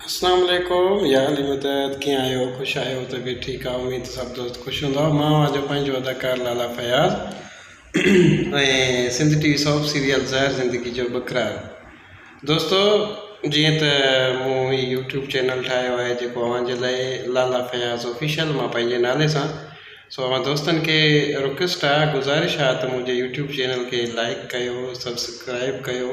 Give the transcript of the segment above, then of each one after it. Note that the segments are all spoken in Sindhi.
اسلام عليڪم يا علي مدد ڪيئن آهيو خوش آهيو طبيعت ٺيڪ آهي اميد ته سڀ دوست خوش هوندا مان اوهان جو پنهنجو اداڪار Lala Fayaz ۽ Sindh T V soap serial Zehar Zindagi جو بکرار دوستو جيئن ته مون هي يوٽيوب چينل ٺاهيو آهي جيڪو اوهان جي لاء لالا فياض آفيشل مان پنهنجي نالي سان سو اوهان دوستن کي رڪويسٽ آهي گذارش آهي ته منهنجي يوٽيوب چينل کي لائڪ ڪيو سبسڪرائب ڪيو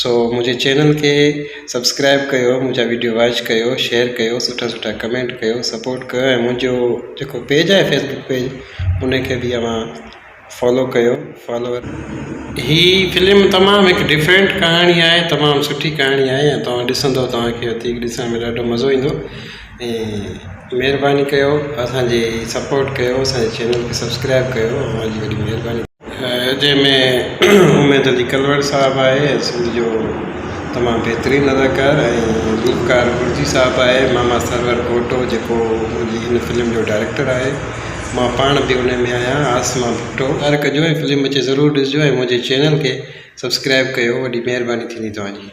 سو منهنجي چينل کي سبسڪرائب ڪيو منهنجا ويڊيو واچ ڪيو شيئر ڪيو سٺا سٺا ڪمينٽ ڪيو سپورٽ ڪيو ۽ منهنجو جيڪو پيج آهي فيسبڪ پيج ان کي بي اوهان فالو ڪيو فالوور هي فلم تمام هڪ ڊفرينٽ ڪهاڻي آهي تمام سٺي ڪهاڻي آهي ۽ توهان ڏسندو توهان کي وڌيڪ ڏسڻ ۾ ڏاڍو مزو ايندو ۽ مهرباني ڪيو اسان جي سپورٽ ڪيو اسان جي چينل کي سبسڪرائب ڪيو اوهان جي وڏي مهرباني جنهن ۾ اميد علي ڪلوڙ صاحب آهي سنڌ جو تمام بهترين اداڪار ۽ گلوڪار گرجي صاحب آهي ماما سرور پوٽو جيڪو منهنجي هن فلم جو ڊائريڪٽر آهي مان پاڻ به ان ۾ آهيان عاصمه ڀٽو ڪار ڪجو ۽ فلم اچي ضرور ڏسجو ۽ منهنجي چينل کي سبسڪرائب ڪيو وڏي مهرباني ٿيندي توهان جي.